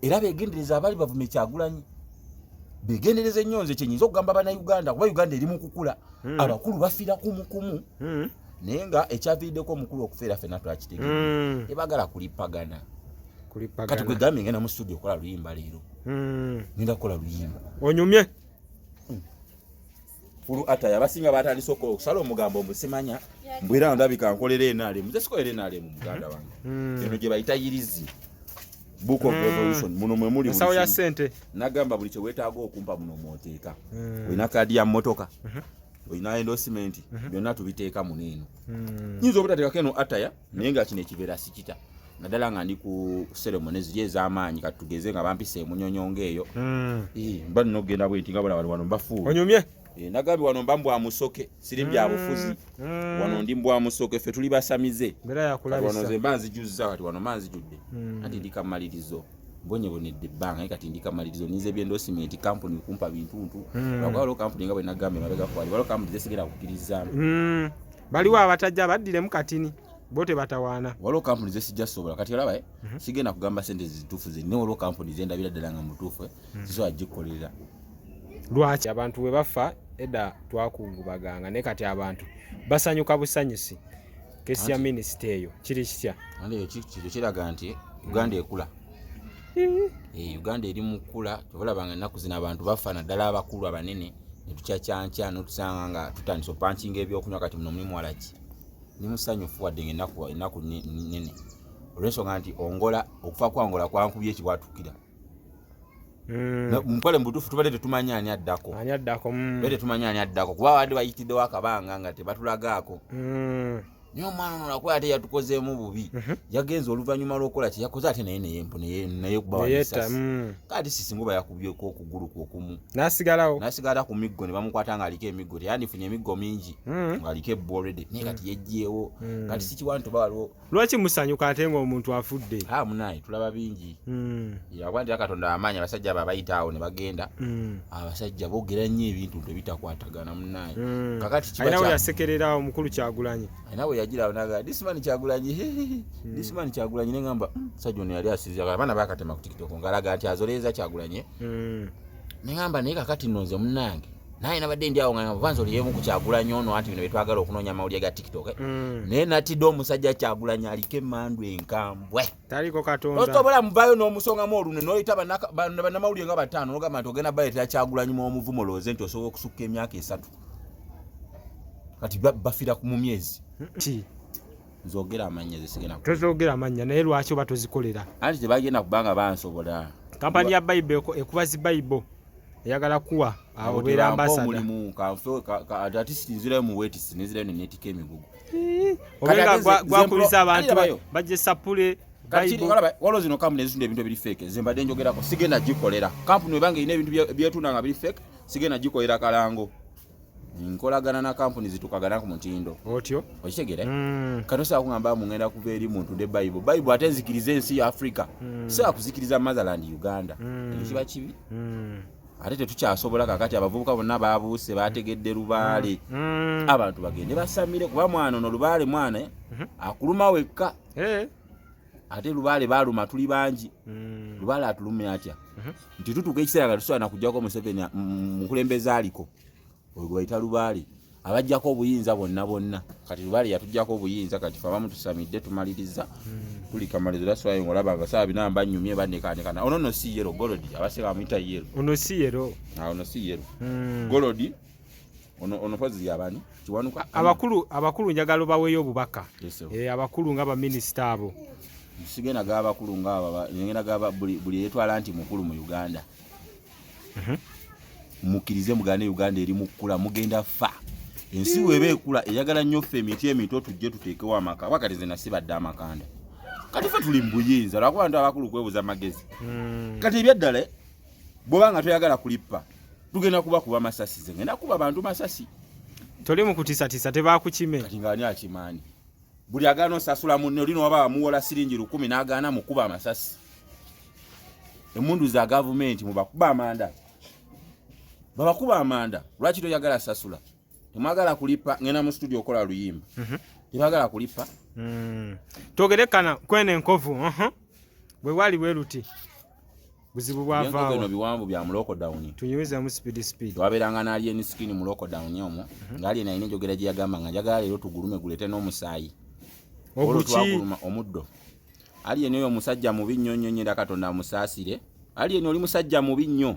era begendereza abali bavume kyagulanyi begendereza ennyo nze kyenyinza okugamba banauganda kuba uganda eri mukukula hmm. abakulu bafira kumukumu hmm. naye nga ekyaviiriddeko omukulu okufeera fena twakitegee hmm. ebagala kulipagana kati kwegambye ngenda mu studio okola luyimba leero ngenda kukola luyimba onyumye fulu ataya basinga batandise okusala omugambo mbusimanya mbwera ndabika nkolera enalemu nze sikolera enalemu muganda wange hmm. eno gye bayita yirizi book of hmm. revolution muno mwe muli ensawo ya sente nagamba buli kyewetaaga okumpa muno mwoteeka hmm. olina kaadi ya mmotoka mhm. olina endosimenti mhm. byonna tubiteeka muno eno nyinza obutateekako eno ataya naye nga kino ekibeera sikita naddala nga ndi ku seremoni ziri ez'amaanyi kati tugeze nga bampisa emunyonyo ngaeyo hmm. mba nina okugenda bwenti nga bona bali wano mbafuuwe onyumye eh, nagambye wano mba mbwa musoke siri mbya hmm. bufuzi hmm. wano ndi mbwa musoke ffe tuli basamize wano ze mba nzijuzza kati wano mba nzijudde anti ndi kamalirizo bonyebonedde ebbanga naye kati ndi kamalirizo ninza ebyendosimenti kampuni kumpa bintuntu akwalo kampuni nga bwe nagambye mabega kwali waliwo kampuni zesigera kukkirizamu baliwo abatajja baddilemu katini bo tebatawaana waliwo kampuni zesijja sobola kati olaba eh? mhm. sigenda kugamba sente zituufu zenna waliwo kampuni zendabira ddala nga mutuufu eh? mhm. zisobola gikkolera lwaki abantu bwe bafa edda twakungubaganga naye kati abantu basanyuka busanyusi kesi ya minisita eyo kiri kitya kyo kiraga nti uganda ekula eh, uganda eri mukula tobalabanga ennaku zino abantu bafa naddala abakulu abanene netukyakyankya notusanga nga tutandise opankinga ebyokunywa kati muno mulimu walaki ndi musanyufu wadde nga enaku enaku nene olwensonga nti ongola okufa kwangola kwankubye ekiwatukira Mm. mukole mubutufu tubadde tetumanya ani addako ani addako mm. tetumanya ani addako kuba baadde bayitiddewo akabanga nga tebatulagaako mm. naye omwana ono nakuba ate yatukozeemu bubi mhm. yagenza oluvannyuma lwokukola kye yakoze ate naye naye kubawayisa mm. kati sisinga oba yakubyeko okugulu kwokumu nasigalawo nasigala ku miggo ne bamukwata nga aliko emiggo teyandifunye emiggo mingi mm. ngaaliko ebbo olredy naye kati mm. yejjeewo kati sikiwa nti oba waliwo lwaki musanyuka ate ngaomuntu afudde ah, munaye tulaba bingi Mm. yakuba nti katonda amaanyi abasajja abo abayita awo ne bagenda mm. abasajja boogera nnyo ebintu nti ebitakwatagana munaye mm. kakati kibanawe yasekerera omukulu kyagulanyi alina we yagira naga dismani kyagulanyi dismani kyagulanyi ne ngamba musajja ono yali asiza abaana bakatema ku tikitoko ngalaga nti azoleeza kyagulanyi ne ngamba naye kakati nno nze munange naye nabadde ndi awo nga vanza oli yemu kukyagulanyi ono anti bino byetwagala okunoonya amawulire ga tiktok naye natidde omusajja kyagulanyi aliko emandu enkambwe taliko katonda osobola muvayo n'omusongamu olune noyita bannamawulire nga bataano nogamba nti ogenda baleetera kyagulanyi mu omuvumo lowooze nti osobola okusukka emyaka esatu kati bafira mu myezi nzogera amannya zesigenda tozogera amannya naye lwaki oba tozikolera anti tebagenda kubanga bansobola kampani ya bayibo ekuba zi bayibo eyagala kuwa awo beera ambasadda omulimu kanfe ati nzirayo mu wetisi nenzirayo nenetika emigugu obenga gwakubiza abantu bajje sapule waliwo zino kampuni ezitunda ebintu ebiri feke zembadde njogerako sigenda gikolera kampuni webanga erina ebintu byetunda nga biri feke sigenda gikolera kalango nkolagana na kampuni zitukagana ku mutindo otyo okitegere mm. kati osobola kugamba mungenda kuva eri muntu nde bayibo bayibo ate nzikiriza ensi ya africa mm. sobola kuzikiriza motherland uganda mm. ekiba kibi mm. ate tetukyasobola kakati abavubuka bonna babuuse bategedde lubaale mm. mm. abantu bagende basamire kuba mwana ono lubaale mwana eh? mhm. akuluma wekka eh. ate lubaale baluma tuli bangi mm. lubaale atulumya atya mhm. nti tutuuka ekiseera nga tusobola nakujjako museveni mukulembeza aliko oyo gwebayita lubaale abajjako obuyinza bonna bonna kati lubaale yatujjako obuyinza kati fe abamu tusamidde tumaliriza hmm. tuli kamalizo daswayo ngaolaba abasawa bina mbanyumye banekaanekana ono no si yero golodi abaseka amuyita yero ono si yero ah, ono si yero hmm. golodi onopozi yabani kiwanuka abakulu abakulu njagala obaweeyo obubaka eh, abakulu nga baminisita abo sigenda gaba bakulu nga aba ngenda gaba buli yetwala nti mukulu mu uganda mhm. mukirize mugane uganda eri mukula mugenda fa ensi mm. weba ekula eyagala nnyo ffe emiti emito tujje tuteekewo amaka wakati nze nasibadde amakanda kati fe tuli mubuyinza lwakuba ntu abakulu kwebuza amagezi mm. kati ebyaddala eh, bwoba nga toyagala kulippa tugenda kuba kuba masasi ze ngenda kuba bantu masasi toli mukutisatisa tebakukime kati ngaani akimaani buli agaana osasula munne oli nowaba wamuwola siringi lukumi n'agaana mukuba amasasi emundu za gavumenti mubakuba amanda babakuba amanda lwaki toyagala sasula temwagala kulipa ngenda mu studio okola luyimba mhm. tebagala kulipa hmm. twogerekana kwena enkovu bwe wali bwe luti buzibu bwavaawa bino biwanvu bya mu lockdown tunyumiza mu speed speed waberanga na alien skin mu lockdown omo mm -hmm. ngali na ine jogera jya gamba nga jagala lero tugulume gulete no musayi olo twaguluma omuddo alien oyo musajja mubi nnyo nnyo nnyo katonda musasire alien oli musajja mubi nnyo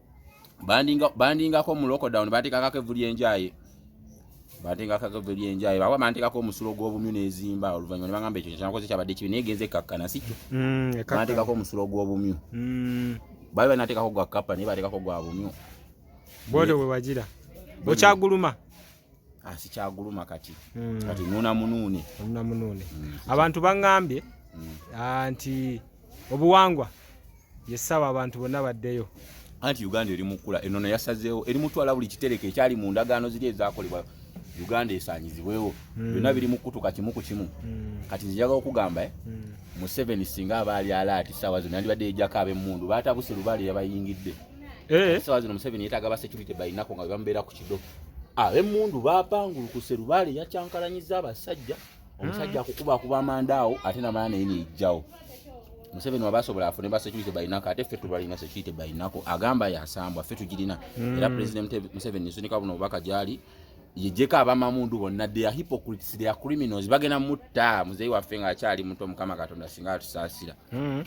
bandingako mu lockdown batekakako evu lyenjaye batekakako evu lyenjaye baba bantekako omusulo gw'obumyu n'ezimba oluvannyuma ne bagamba ekyo kyenakoze kyabadde kibi naye genze ekkakkana si kyo mm, bantekako omusulo gw'obumyu mm. bali banatekako gwa kappa naye batekako gwa bumyu bwodo bwe wagira okyaguluma asikyaguluma ah, kati mm. kati nuna munune nuna munune mm. abantu bangambye mm. Ah, nti obuwangwa yesaba abantu bonna baddeyo anti uganda eri mukula enono yasazeewo eri mutwala buli kitereko ekyali mu ndagaano ziri ezakolebwa uganda esanyizibwewo hmm. byonna biri mukutuka kimu ku kimu hmm. kati nzijaga okugamba eh? hmm. museveni singa abaali alaati saawa zino yandibadde yejako abemmundu baatabuse lubaale yabayingidde eh. esawa zino museveni yetaaga ba security balinako nga bebamubeera ku kido abemmundu ah, bapangulukuse lubaale yakyankalanyiza abasajja omusajja hmm. akukuba akuba amanda awo ate namala naye neyijjawo museveni waba asobola afune ba security balinako ate ffe tubalina security balinako agamba yasambwa ffe tugirina hmm. era president museveni nsunika buno obubaka gyali yejeko abamamundu bonna they are hypocrites they are criminals bagenda mutta muzeyi waffe nga akyali muto mukama katonda singa atusaasira hmm.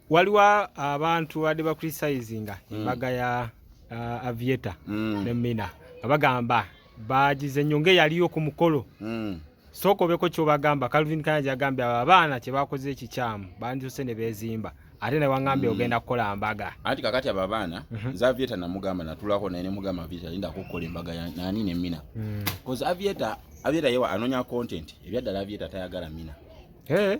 waliwo abantu badde bacritisinga mm. embaga ya uh, avieta mm. ne mina nga bagamba bagize nyo ngaeyaliyo ku mukolo mm. sooka obeko kyobagamba calvin kanya gyagambye abo abaana kyebakoze ekikyamu bandisose ne bezimba ate ne wangambye mm. ogenda kukola mbaga anti kakati abo abaana mm -hmm. nze avieta namugamba natulako naye nemugamba avieta linda kukola embaga nani ne mina mm. bcause avieta avieta yewa anonya content ebyaddala avieta tayagala mina hey. Eh?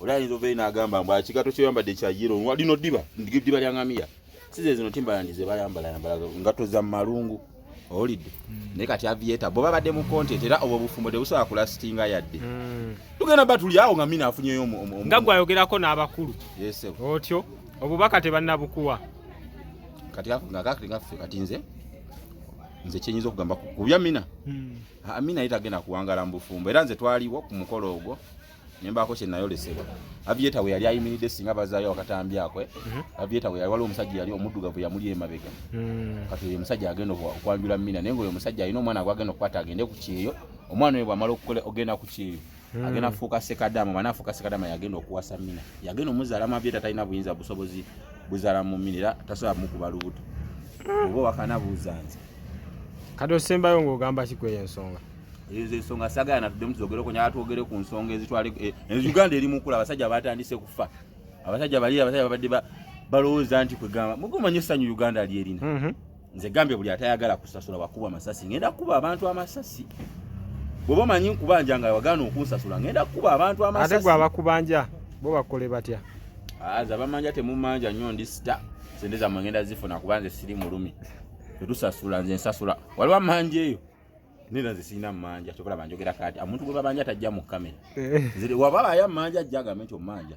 Oli ayinza obeeyi n'agamba mbu akigato kyoyambadde kya yiro nwa lino ddiba ddiba lya ngamiya size zino timbalandi ze bayambala yambala ngatto za mu malungu owulidde hmm. naye kati avieta bwe babadde mu content era obwo obufumbo tebusobola kulasitinga yadde hmm. tugenda ba tuli awo nga mina afunyeyo nga gwe ayogerako n'abakulu otyo obubaka tebannabukuwa kati nga kakati nga ffe kati nze nze kyenyinza okugamba kubya mina hmm. mina ye tagenda kuwangala mu bufumbo era nze twaliwo ku mukolo ogwo nembaako kye nayolesebwa avieta we yali ayimiridde singa bazaayo akatambi akwe mhm. avieta we yali waliwo omusajja yali omuddugavu yamuli emabega hmm. kati oyo omusajja agenda okwanjula mina naye ngaoyo omusajja alina omwana gwagenda okukwata agende ku kyeyo omwana oyo bwamala okukola ogenda ku kyeyo hmm. agenda kufuuka sekadama mwana afuuka sekadama yagenda okuwasa mina yagenda omuzaalamu avieta talina buyinza busobozi buzaala mu mina era tasobola mukuba lubuto hmm. oba wakanabuuza nze kati osembayo ngaogamba kikweyo ensonga ezo ensonga sagala natuddemu tuzogere okunyala twogere ku nsonga ezitwale eh, eh, uganda eri mukula abasajja batandise kufa abasajja bali abasajja babadde balowooza nti kwegamba mugumanyo essanyu uganda lyerina mhm. nze gambye buli atayagala kusasula wakuba amasasi ngenda kukuba abantu amasasi bwoba omanyi nkubanja nga wagaana okunsasula ngenda kukuba abantu amasasi ate gwe abakubanja bo bakole batya aze ah, abamanja temumanja nnyo ndi sita sente zamwe ngenda zifuna kuba nze siri mulumi tetusasula nze nsasula waliwo amanja eyo nina zisina manja kyobola banjogera kati amuntu gwe babanja tajja mu kamera eh. ziri wabala aya manja jaga mento manja